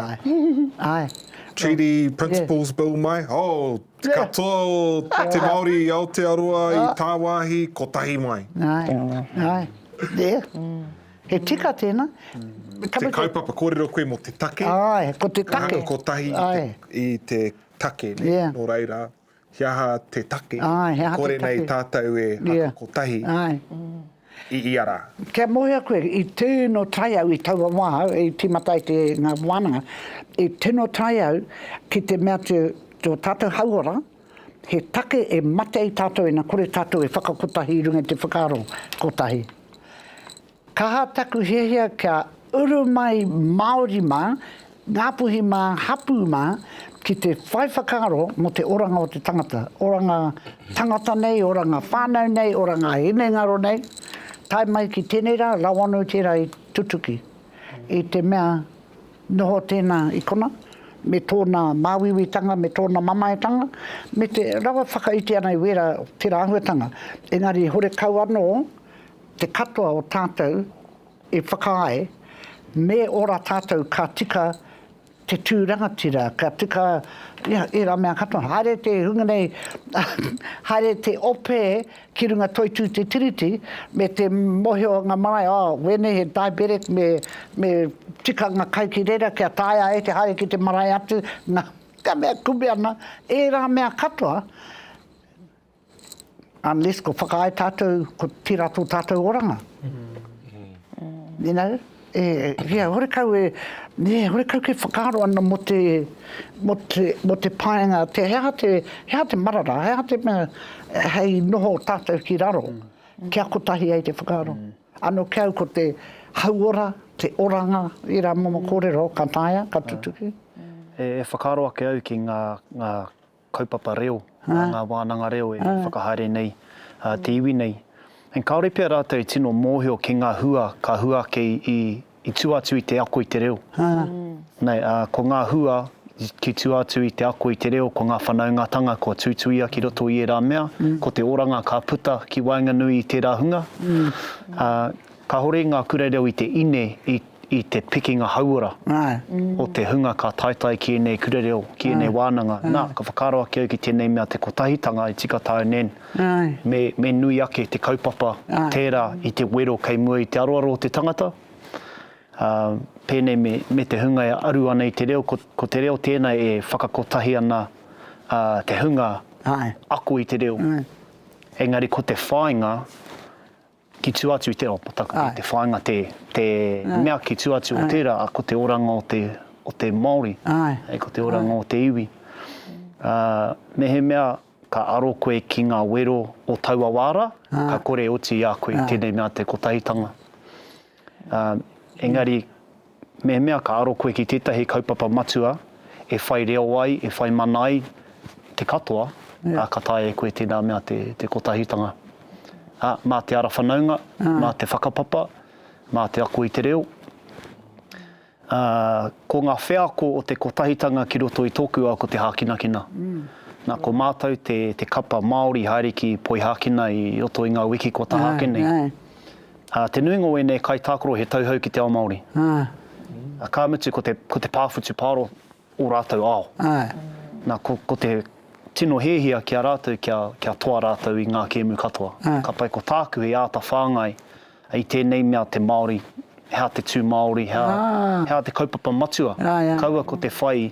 Treaty Principles Bill mai, oh, katoa o te Māori i Aotearoa, i tāwāhi, kotahi mai. He tika tēnā. Te kaupapa, kōrero koe mō te take, ka haka kotahi i te take, nō reira. He aha te take i kore nei tātou e ako kotahi i ia rā? Kia mōhio koe, i tino tae au i taua wā, i tīmata ai te ngā wānanga, i tino tae au ki te mea atu tō tātou hauora, he take e mate ai tātou ina kore tātou e whakakotahi i runga i te whakaaro kotahi. Kaha taku hiahia kia uru mai Māori mā, Ngāpuhi mā, hapū mā, ki te whai whakaaro mō te oranga o te tangata, oranga tangata nei, oranga whānau nei, oranga hinengaro nei, tae mai ki tēnei rā, rawa anō i tērā i tutuki. I te mea, noho tēnā i konā, me tōna māuiuitanga, me tōna mamaetanga, me te rawe whakaiti ana i wērā, tērā āhuatanga, engari horekau anō Te katoa o tātou e whakaae, me ora tātou ka tika te tū rangatira, ka tika ērā mea katoa. Haere te hunga nei, haere te ope ki runga toitū te Tiriti, me te mohio o ngā marae, oh, wēnei he diabetic, me tika ngā kai ki reira kia taea ai te haere ki te marae atu, ngā mea kume ana, ērā mea katoa. Unless kua whakaae tātou, kua tērā tō tātou oranga. You know, e, horekau e, e, horekau ke whakaaro ana mo te, mo te, mo te paenga, te he aha te, he aha te marara, he aha te mea, hei noho tātou ki raro, kia kotahi ai te whakaaro. Ano kia au ko te hauora, te oranga, ērā momo kōrero ka taea, ka tutuki. E whakaaro ake au ki ngā, ngā kaupapa reo, ngā wānanga reo e whakahaere nei te iwi nei. Engari kāore pea rātou e tino mōhio ki ngā hua ka hua ake i tua atu i te ako i te reo. Ko ngā hua ki tua atu i te ako i te reo, ko ngā whanaungatanga kua tuituia ki roto i ērā mea, ko te oranga ka puta ki waenganui i tērā hunga. Kāore i ngā kura reo i te ine i. i te pikinga hauora o te hunga ka taetae ki ēnei kura reo, ki ēnei wānanga. Nā, ka whakaaro ake au ki tēnei mea te kotahitanga e tika tāu nen, me, me nui ake te kaupapa tērā i te wero kei mua i te aroaro o te tangata, ā, pēnei me, me te hunga e aru ana i te reo, ko, ko te reo tēnā e whakakotahi ana, ā, te hunga ako i te reo. Engari ko te whāinga, Ki tua atu i te ao pataka, i te whāinga te, te mea ki tua atu o tērā, a, ko te oranga o te, o te Māori, hei, ko te oranga o te iwi. Ā, mehemea ka aro koe ki ngā wero o taua wā rā, ka kore e oti i a koe i tēnei mea te Kotahitanga. Ā, engari, mehemea ka aro koe ki tētahi kaupapa matua e whai reo ai, e whai mana ai te katoa, ā, ka taea e koe tēnā mea te, te kotahitanga. Ā, mā te ara whanaunga, mā te whakapapa, mā te ako i te reo, Ā, ko ngā wheako o te Kotahitanga ki roto i tōku ao ko te hākinakina. Nā, ko mātou te, te kapa Māori haere ki Poihākina i roto i ngā wiki kua taha ake nei. Ā, te nuinga o ēnei kaitākaro he tauhou ki te ao Māori. Ā, ka mutu ko te, ko te pāwhutu pāro ō rātou ao. Nā, ko, ko te tino hiahia ki a rātou kia, kia toa rātou i ngā kēmu katoa. Ka pai ko tāku hei āta whāngai i tēnei mea te Māori, he aha te tū Māori, he aha, he aha te kaupapa matua. Kaua ko te whai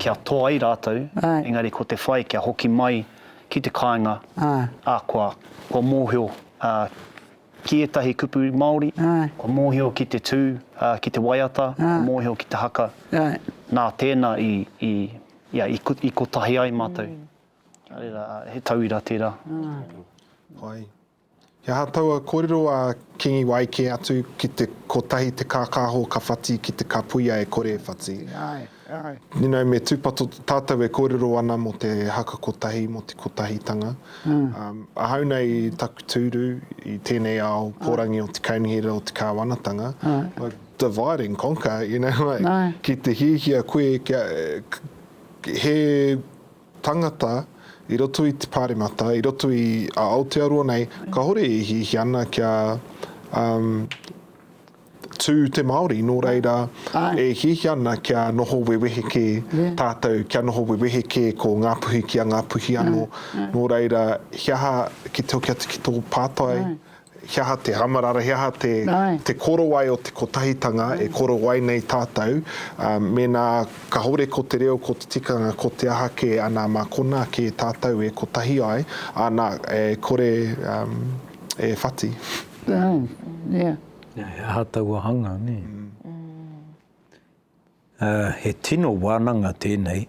kia toa ai rātou, engari ko te whai kia hoki mai ki te kāinga, ā, kua, kua mōhio, ā, Ki ētahi kupu Māori, kua mōhio ki te tū, ki te waiata, kua mōhio ki te haka, nā tēnā i kotahi ai mātou. He tauira tērā. Āe. He aha taua kōrero a Kīngi Wai kē atu ki te kotahi te kākāho ka whati ki te kapuia e kore e whati? You know, me tūpato tātou e kōrero ana mō te haka kotahi, mō te kotahitanga. Ahau nei i taku tūru i tēnei ao pōrangi o te kaunihera, o te kāwanatanga, divide and conquer, you know, like, ki te hiahia koe kia, he tangata i roto i te Pāremata, i roto i a Aotearoa nei, kāore e hiahia ana kia, Tū te Māori, nō reira, e hiahia ana kia noho wewehe kē tātou, kia noho wewehe kē ko Ngāpuhi ki a Ngāpuhi anō. Nō reira, he aha ki te hoki atu ki tō pātai, he aha te amarara, he aha te korowai o te kotahitanga e korowai nei tātou, mēnā kāore ko te reo, ko te tikanga, ko te aha kē, anā, mā konā kē tātou e kotahi ai, anā, e kore e whati. He aha taua hanga, nē? He tino wānanga tēnei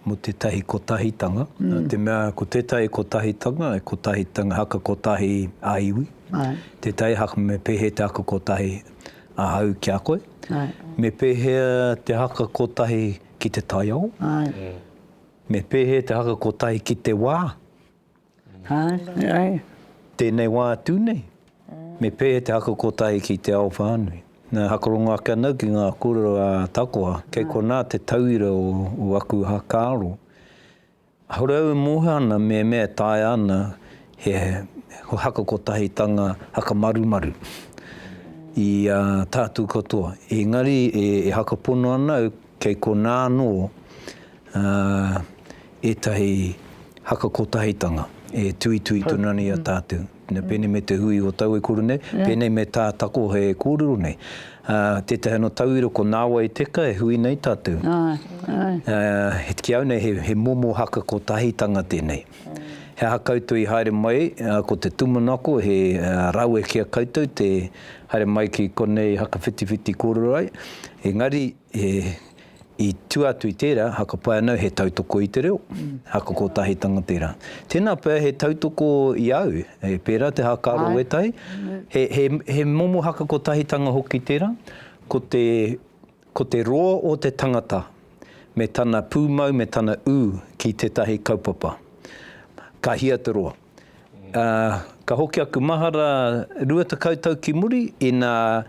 mō tētahi kotahitanga, nā te mea ko tētahi kotahitanga, he kotahitanga haka kotahi a iwi, tētahi haka me pēhea te haka kotahi ahau ki a koe, me pēhea te haka kotahi ki te taiao, me pēhea te haka kotahi ki te wā. Tēnei wā atu nei, me pēhea te haka kotahi ki te ao whānui? Na, hakarongo ake ana au ki ngā kōrero a Takoha, kei konā te tauira o aku whakaaro. Kāore au e mōhio ana me mea e taea ana he haka kotahitanga, haka marumaru i a tātou katoa. Engari e haka pono ana au Kei konā anō ētahi haka kotahitanga e tuitui tonu ana i a tātou, pēnei me te hui o taua e kore nei, pēnei me tā takohe e kōrero nei. Tētahi anō tauira ko Nāwai Teka e hui nei tātou. Ki au nei he momo haka kotahitanga tēnei. He aha koutou i haere mai, ko te tūmanako he rawe ki a koutou te. Haere mai ki konei hakawhitiwhiti kōrero ai, engari i tua atu i tērā, hakapai ana he tautoko i te reo, haka kōtahitanga tērā. Tēnā pea he tautoko i a au, pērā te haka aro wētahi, he momo haka kōtahitanga hoki tērā, ko te roa o te tangata me tana pūmau me tana ū ki tētahi kaupapa. Ka hia te roa. Ā, ka hoki aku mahara rua tekau tau ki muri, ina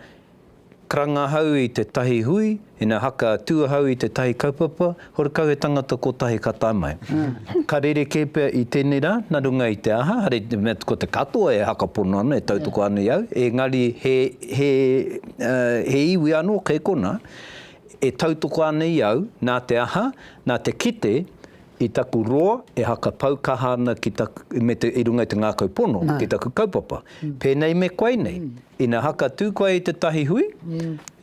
karanga ahau i tētahi hui, ina haka tū ahau i tētahi kaupapa, horekau he tangata kotahi ka tae mai. Ka rerekē pea i tēnei rā, nā runga i te aha, hare te mea ko te katoa e hakapono ana, e tautoko ana i au, engari he, he, he iwi anō kei konā e tautoko ana i au, nā te aha, nā te kite I taku roa, e haka pau kaha ana ki taku, me te, i runga i te ngākau pono, ki taku kaupapa. Pēnei me koe nei, ina haka tū koe i tētahi hui,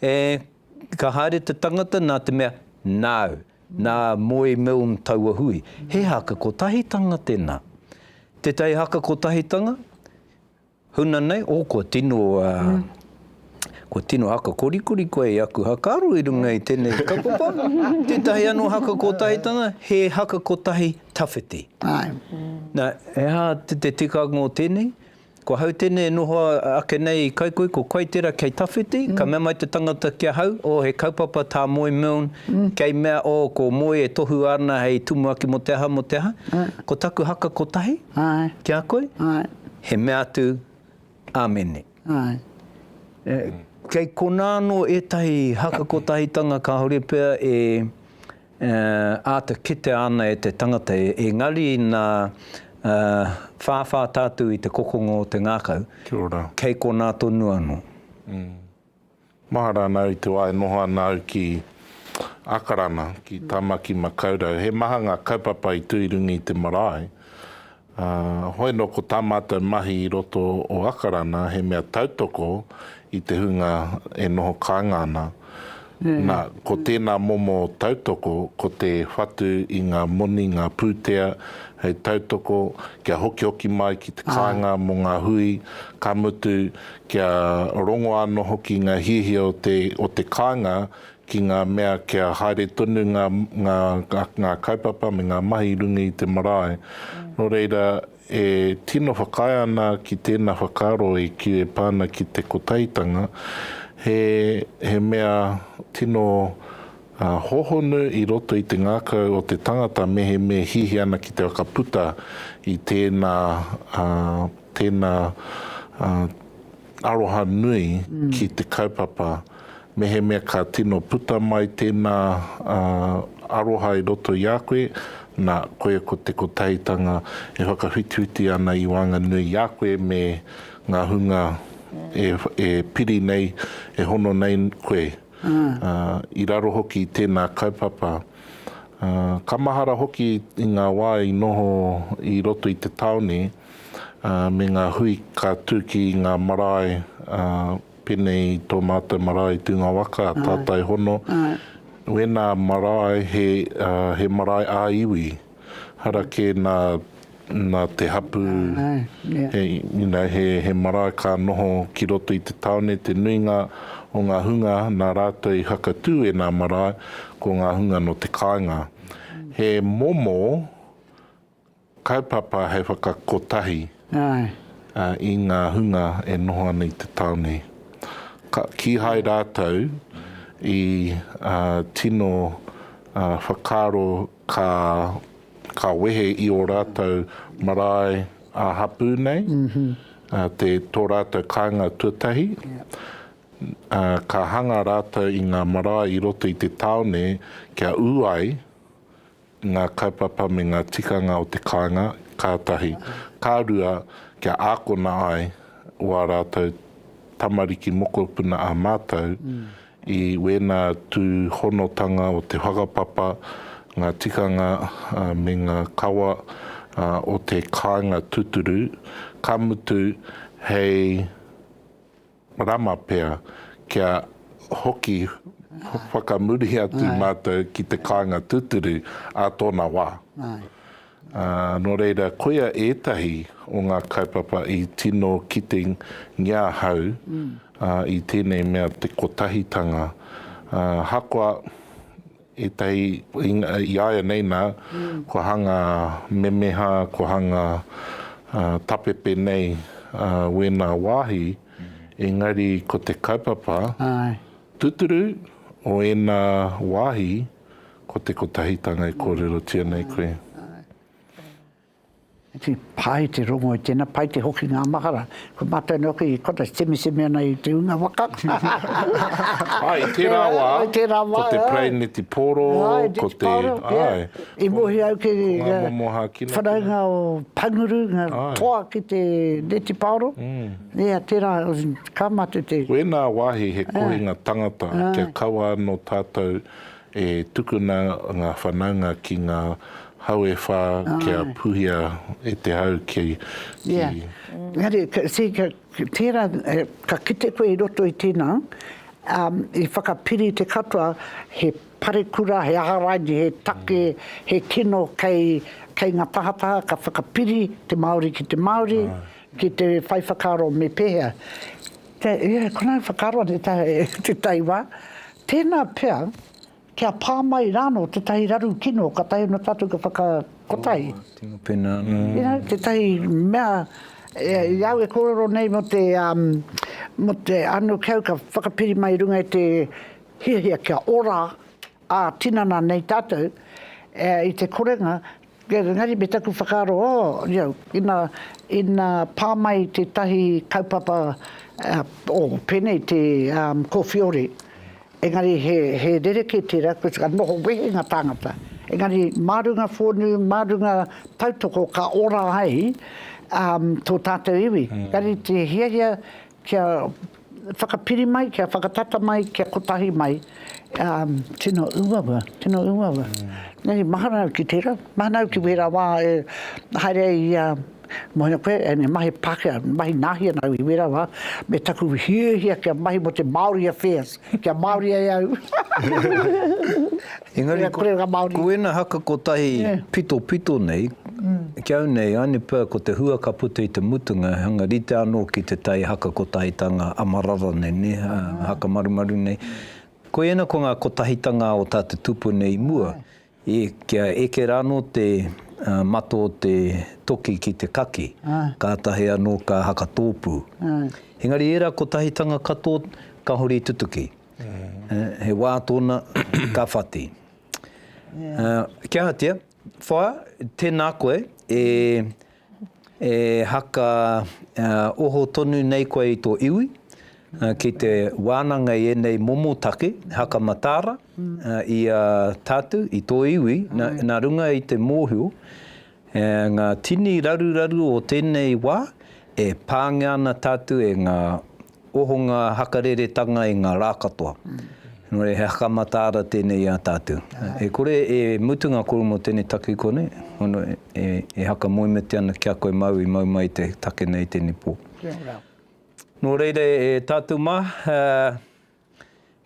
e, ka haere te tangata nā te mea, nāu, nā Moe Milne taua hui. He haka kotahitanga tēnā. Tētahi haka kotahitanga, Huna nei, oh kua tino, kua tino haka korikori koe i aku hakaaro i runga i tenei kaupapa. Tetahi ano haka kotahitanga, he haka kotahi tawhiti. Na, he aha te tikanga o tenei? Ko hau tenei e noho ake nei i Kaikoi, ko Kaitera kei tawhiti, ka mea mai te tangata ki ahau, oh he kaupapa ta Moe Milne, kei mea, oh ko Moe e tohu ana hei tumuaki mo te aha, mo te aha. Ko taku haka kotahi, ki a koe. He mea atu, Amene. Āe. Kei konā anō ētahi haka kotahitanga kāore pea e āta kitea ana e te tangata, engari nā whāwhā tātou i te kokonga o te ngākau, kei konā tonu anō. Mahara ana au te wā e noho ana au ki Akarana, ki Tāmaki Makaurau. He maha ngā kaupapa i tū i runga i te marae. Hoi nō ko tā mātou mahi i roto o Akarana he mea tautoko i te hunga e noho kāinga ana. Nā, ko tēnā momo tautoko ko te whatu i ngā moni, ngā pūtea hei tautoko kia hokihoki mai ki te kāinga mō ngā hui, ka mutu kia rongo anō hoki ngā hiahia o te kāinga ki ngā mea kia haere tonu ngā kaupapa me ngā mahi i runga i te marae. Nō reira, e tino whakaae ana ki tēnā whakaaro e pā ana ki te Kotahitanga, he mea tino hōhonu i roto i te ngākau o te tangata mehemea e hiahia ana ki te whakaputa i tēnā Tēnā, aroha nui ki te kaupapa. Mehemea ka tino puta mai tēnā aroha i roto i a koe, nā, koia ko te kotahitanga e whakawhitiwhiti ana i waenganui i a koe me ngā hunga e piri nei, e hono nei koe. I raro hoki i tēnā kaupapa. Ka mahara hoki i ngā wā i noho i roto i te tāone. me ngā hui ka tū ki ngā marae, pēnei i tō mātou marae i Tūnga Waka, Tātai Hono, wēnā marae he marae ā-iwi, harakē nā te hapū, he marae ka noho ki roto i te tāone, te nuinga o ngā hunga nā rātou i whakatū ēnā marae, ko ngā hunga nō te kāinga. He momo. Kaupapa hei whakakotahi i ngā hunga e noho ana i te tāone. Ka kīhai rātou i tino whakaaro ka wehe i ō rātou marae ā-hapū nei, tō rātou kāinga tuatahi. Ka hanga rātou i ngā marae i roto i te tāone kia ū ai ngā kaupapa me ngā tikanga o te kāinga, ka tahi. Ka rua, kia ākona ai wā rātou tamariki mokopuna ā mātou i wēnā tūhonotanga o te whakapapa, ngā tikanga me ngā kawa o te kāinga tūturu, ka mutu hei Rama pea, kia hoki whakamuri atu mātou ki te kāinga tūturu ā tōna wā. Nō reira, koia ētahi o ngā kaupapa i tino kitengia ahau i tēnei mea te kotahitanga. Ahakoa Ētahi i a ia nei nā, kua hanga memeha, kua hanga tapepe nei wēnā wāhi, engari ko te kaupapa tūturu o ēnā wāhi ko te kotahitanga e kōrerotia nei koe. He pai te rongo i tēnā, pai te hoki ngā mahara. Ko mātou anō ki Qantas, temeseme ana i te hunga waka. Āe, i tērā wā, ko te Paraine Te Pōro, ko te, āe. I mohi au ki ngā whanaunga o Panguru, ngā toa ki te Neti Paoro. Ia, tērā, ka mātou te. Wēnā wāhi he kohinga tangata kia kaua anō tātou E tukuna ngā whanaunga ki ngā hau e whā kia puhia e te hau ki. Ia. Engari, see, tērā, ka kite koe i roto i tēnā, i whakapiri te katoa, he parekura, he aha raini, he take, he kino kei, kei ngā tahataha ka whakapiri te Māori ki te Māori, ki te whai whakaaro me pēhea. Te, yeah, ko nāu whakaaro a te tae, te tae wā. Tēnā pea, kia pā mai rāno tētahi raru kino, ka taea nō tātou ka whakakotahi. Oh, tino pena. Mm. You know, tētahi mea, e, i au e kōrero nei mo te, um, mo te ano kau ka whakapiri mai runga i te hiahia kia ora Ā, tinana nei tātou i te korenga, engari me taku whakaaro, ō, io, ina, ina pā mai tētahi kaupapa, ō, pēnei te kōwhiore, engari he, he rerekē tērā, koe tērā noho wehenga tāngata. Engari mā runga whonu, mā runga tautoko ka ora ai tō tātou iwi. Engari te hiahia Kia whakapiri mai, kia whakatata mai, kia kotahi mai. Um. Tino uaua, tino uaua. Nei, mahara au ki tera, mahana au ki wera wa e haere ai ia mohina koe and e mahi Pakea, mahi Nahi ana au i wera wa, me taku hiahia kia mahi mo te Maori affairs, kia Maori ai au. Engari, ko ēnā haka kotahi pitopito nei, ki au nei, anipa, ko te hua ka puta i te mutunga, hanga rite anō ki te tai haka kotahitanga a marara nei, nē, haka marumaru nei. Ko ēnā, ko ngā kotahitanga o tā te tupu nei i mua, i, kia eke rānō te mata o te toki ki te kaki, kātahi anō ka haka tōpū. Engari ērā kotahitanga katoa, ka hori tutuki. He wā tōna ka whati. Kia hatia, whaea, tēnā koe e e haka oho tonu nei koe i tō iwi, ki te wānanga i ēnei momo take haka mataara i a tātou, i tō iwi, nā runga i te mōhio, ngā tini raruraru o tēnei wā, e pāngia ana tātou e ngā Oho ngā hakareretanga i ngā rā katoa. Nō reira he haka mataara tēnei i a tātou. E kore e mutu ngā kōrero mō tēnei takiko nei, hono e haka moemiti ana ki a koe māu i mau mai i te take nei i tēnei pō. Nō reira e tātou mā,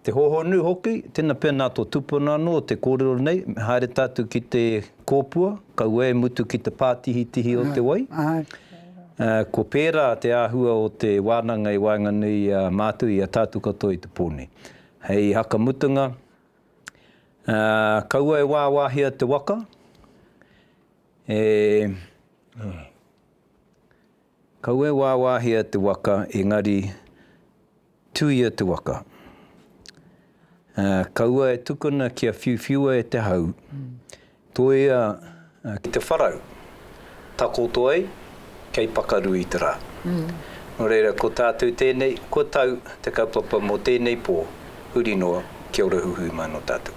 Te hōhonu hoki, tena pēnā tō tupuna anō te kōrero nei, me haere tātou ki te kōpua, kaua e mutu ki te pātihitihi o te wai. Ko pērā te āhua o te wānanga i waenganui i a mātou, i a tātou katoa i te pō nei. Hei haka mutunga, kaua e wāwāhia te waka, e, kaua e wāwāhia te waka, engari, Tuia te waka. Ā, kaua e tukuna kia whiuwhiua e te hau. Toia ki te wharau, takoto ai, kei pakaru i te rā. Nō reira, ko tātou tēnei, ko tau te kaupapa mō tēnei pō, huri noa, kia ora huhui mai mō tātou.